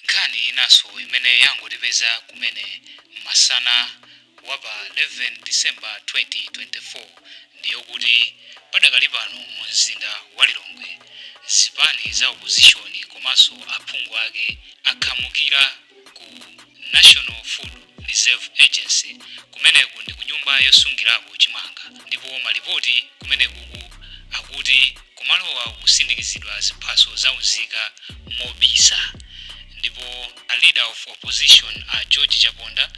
Nkhani inanso imene yangotipeza kumene masana wa pa 11 December 2024 ndi yokuti padakali pano mu mzinda wa Lilongwe zipani za opozishoni komanso aphungu ake akhamukira ku National Food Reserve Agency. Kumeneku ndi kunyumba yosungirako chimanga ndipo malipoti kumenekuku akuti kumalowa kukusindikizidwa ziphaso za unzika mobisa ndipo a Leader of Opposition a George Chaponda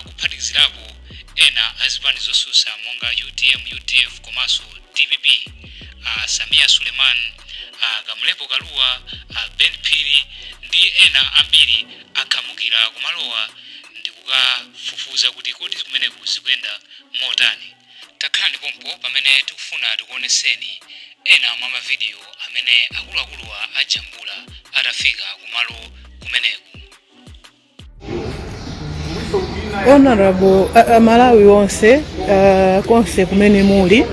kuphatikizirapo ena a zipani zosusa monga utm, udf komanso dpp a Sameer Suleman, a Kamlepo Kalua, a Ben Phiri ndi ena ambiri akhamukira kumalowa ndikukafufuza kuti kodi kumeneku zikuyenda motani. Takhalani pompo pamene tikufuna tikuoneseni ena mwa mavidiyo amene akuluakuluwa ajambula atafika kumalo kumeneku. Honorable uh, Malawi onse uh, konse kumene muli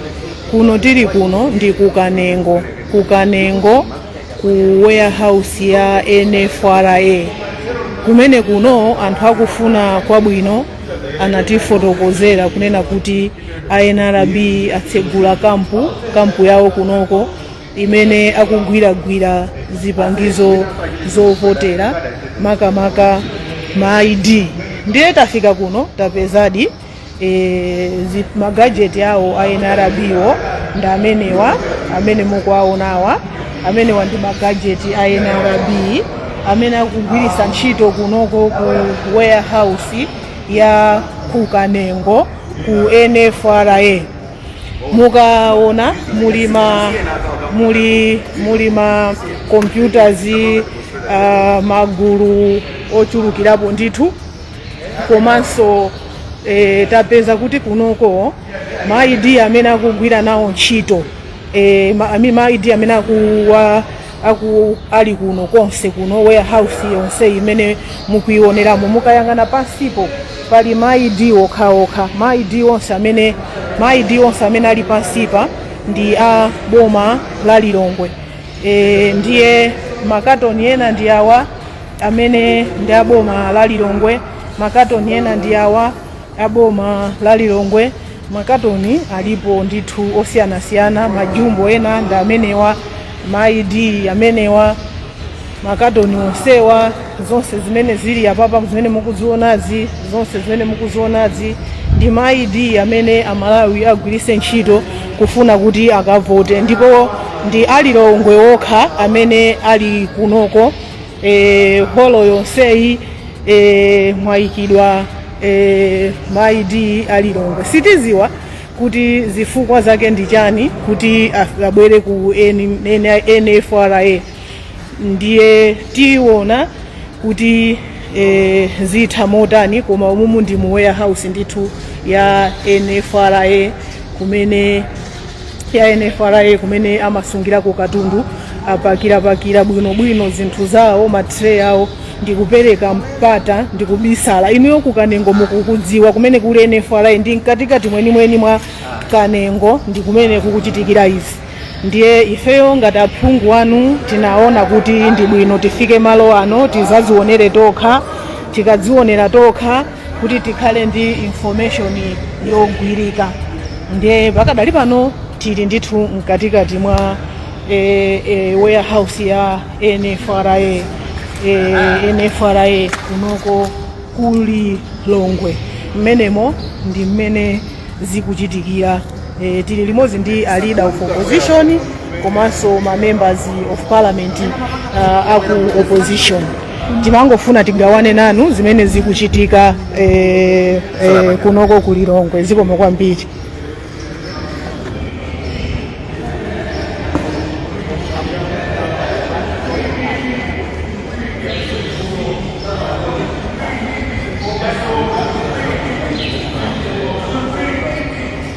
kuno tili kuno ndi kukanengo kukanengo ku warehouse ya NFRA kumene kuno anthu akufuna kwabwino anatifotokozera kunena kuti a NRB atsegula kampu kampu yawo kunoko imene akugwiragwira zipangizo zovotera makamaka ma ID ndiye tafika kuno tapezadi e, magajeti awo a nrb-wo ndi amenewa amene mukuwaonawa amenewa ndi magajeti a nrb amene akugwiritsa ntchito kunoko ku warehouse ya kukanengo ku nfra mukaona muli ma muli muli ma computers uh, magulu ochulukirapo ndithu komanso e, tapeza kuti kunoko ma ID amene akugwira nawo ntchito e, ma, ami- ma ID amene akuwa aku ali kuno konse kuno warehouse yonse imene mukuioneramo mukayang'ana pansipo pali ma ID okhaokha ma ID onse amene ma ID onse amene ali pansipa ndi a boma la Lilongwe e, ndiye makatoni ena ndi awa amene ndi a boma la lilongwe makatoni ena ndi awa a boma la lilongwe makatoni alipo ndithu osiyanasiyana majumbo ena ndi amenewa ma id amenewa makatoni onsewa zonse zimene zili apapa zimene mukuzionazi zonse zimene mukuzionazi ndi ma id amene amalawi agwiritse ntchito kufuna kuti akavote ndipo ndi alilongwe okha amene ali kunoko e, holo yonseyi e, mwayikidwa e, ma id a Lilongwe sitiziwa kuti zifukwa zake ndi chani kuti af- abwere ku N- N- nfra ndiye tiona kuti e, zitha motani koma umumu ndi mu warehouse ndithu ya nfra kumene ya NFRA kumene amasungirako katundu apakirapakira bwinobwino zinthu zawo matray awo ndikupereka mpata ndikubisala inuyo ku kanengo mukukudziwa kumene kuli NFRA ndi mkatikati mwenimweni mwa kanengo ndi kumene kukuchitikira izi ndiye ifeyo ngati aphungu anu tinaona kuti ndi bwino tifike malo ano tizazionere tokha tikadzionera tokha kuti tikhale ndi information yogwirika ndiye pakadali pano tili ndithu mkatikati mwa e, e, warehouse ya nfra e, nfra kunoko ku Lilongwe mmenemo ndi mmene zikuchitikira e, tili limodzi ndi a leader of opposition komanso ma members of parliament uh, aku opposition timangofuna tigawane nanu zimene zikuchitika eh, eh, kunoko ku lilongwe zikomo kwambiri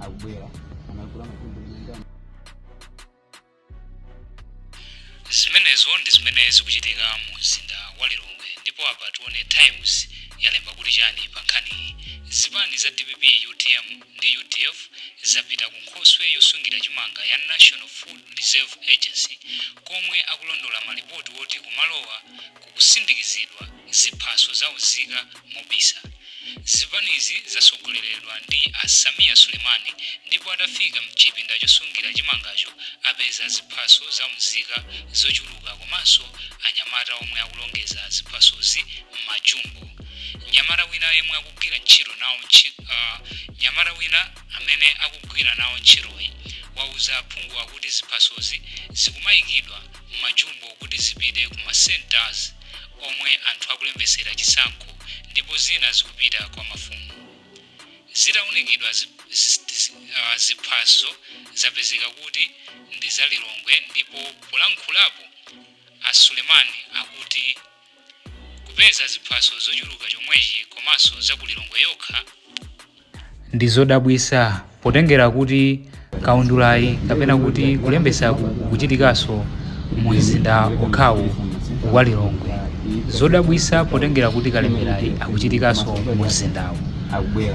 akubwera anakula matundu zimenezo ndi zimene zikuchitika mu mzinda wa lilongwe ndipo apa tione times yalemba kuti chani pa nkhaniyi zipani za dpp utm ndi udf zapita ku nkhokwe yosungira chimanga ya national food reserve agency komwe akulondola malipoti woti kumalowa kukusindikizidwa ziphaso za unzika mobisa. Zipanizi zatsogoleredwa ndi a Sameer Sulemani ndipo atafika mchipinda chosungira chimangacho apeza ziphaso za unzika zochuluka komanso anyamata omwe akulongeza ziphasozi mma jumbo. Mnyamata wina yemwe akugwira ntchito nawo ntchi ah, mnyamata wina amene akugwira nawo ntchitoyi wauza aphunguwa kuti ziphasozi zikumayikidwa majubo kuti zipite ku ma centres omwe anthu akulembetsera chisankho ndipo zina zikupita kwa mafumu. Zitaunikidwa ziphaso zapezeka kuti ndi za Lilongwe ndipo polankhulapo a Sulemani akuti kupeza ziphaso zochuluka chomwechi komanso za ku Lilongwe yokha ndi zodabwitsa potengera kuti kaundulayi kapena kuti kulembetsa kuchitikanso mu mzinda okhawu wa Lilongwe zodabwitsa potengera kuti kalemberayi akuchitikanso mu mzindawu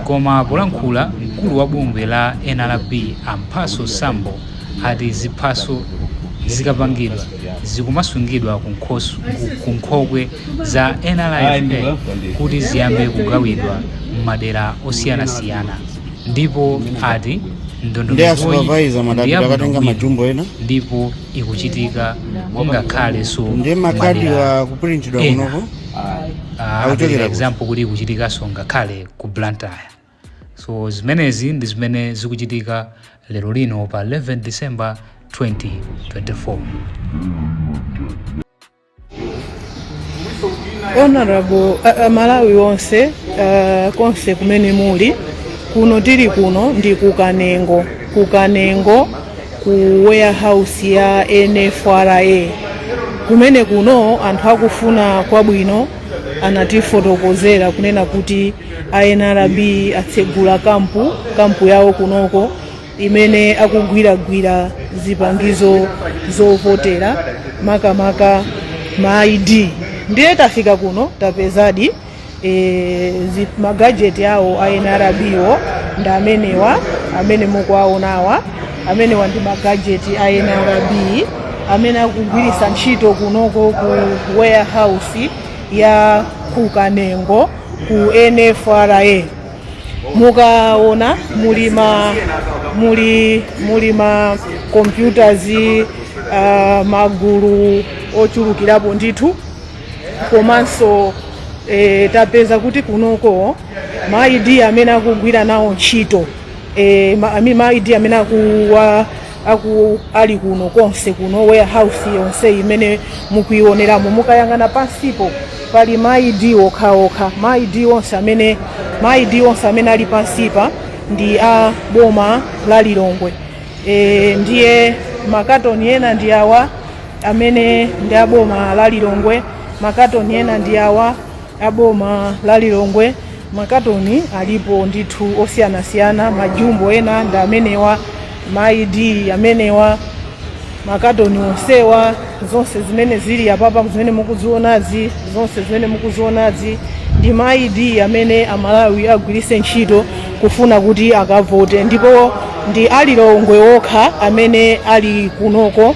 koma polankhula mkulu wa bungwe la NRB a Mphatso Sambo ati ziphaso zikapangidwa zikumasungidwa ku nkhokwe za nfra kuti ziyambe kugawidwa m'madera osiyanasiyana ndipo ati ndi a supervisor madapita akatenga majumbo ena ndipo ikuchitika ngakhalenso ndi makadiwa akupulintidwa kunoko akuchokera example kuti ikuchitikanso ngakhale ku blantyre so zimenezi ndi zimene zikuchitika lero lino pa 11 december 2024 honorable uh, amalawi onse uh, konse kumene muli kuno tili kuno ndi kukanengo kukanengo ku warehouse ya nfra kumene kuno anthu akufuna kwabwino anatifotokozera kunena kuti a nrb atsegula kampu kampu yawo kunoko imene akugwiragwira zipangizo zovotera makamaka ma id ndiye tafika kuno tapezadi e, zi- magajeti awo a nrb wo ndi amenewa amene mukuwaonawa amenewa ndi magajeti a nrb amene akugwiritsa ntchito kunoko ku warehouse ya kukanengo ku NFRA mukaona muli ma computers uh, magulu ochulukirapo ndithu komanso e, tapeza kuti kunoko ma ID amene akugwira nawo ntchito e, ma, ami- ma ID amene akuwa aku ali kuno konse kuno warehouse yonse imene mukuioneramo mukayang'ana pansipo pali ma id okhaokha ma id onse amene ma id onse amene ali pansipa ndi a boma la lilongwe e, ndiye makatoni ena ndi awa amene ndi a boma la lilongwe makatoni ena ndi awa a boma la Lilongwe makatoni alipo ndithu osiyanasiyana, majumbo ena ndi amenewa, ma ID amenewa, makatoni onsewa, zonse zimene zili apapa zimene mukuzionazi, zonse zimene mukuzionazi ndi ma ID amene Amalawi agwiritse ntchito kufuna kuti akavote, ndipo ndi a Lilongwe okha amene ali kunoko.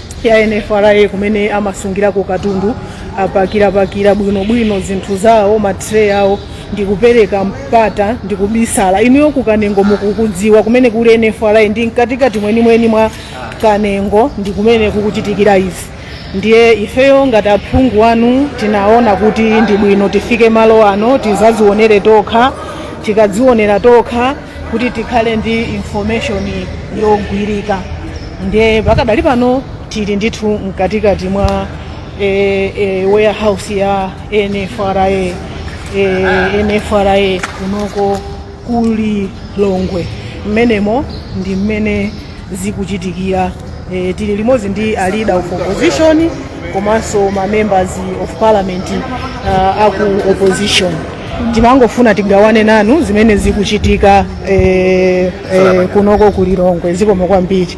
ya NFRA kumene amasungirako katundu apakirapakira bwinobwino zinthu zawo matray awo ndikupereka mpata ndikubisala inuyo ku kanengo mukukudziwa kumene kuli NFRA ndi mkatikati mwenimweni mwa kanengo ndi kumene kukuchitikira izi ndiye ifeyo ngati aphungu anu tinaona kuti ndi bwino tifike malo ano tizazionere tokha tikadzionera tokha kuti tikhale ndi information yogwirika ndiye pakadali pano tili ndithu mkatikati mwa e, e, warehouse ya nfra e, nfra kunoko ku Lilongwe mmenemo ndi mmene zikuchitikira. Tili limodzi ndi a leader of opposition komanso ma members of parliament uh, aku opposition timangofuna tigawane nanu zimene zikuchitika eh, eh, kunoko ku Lilongwe zikomo kwambiri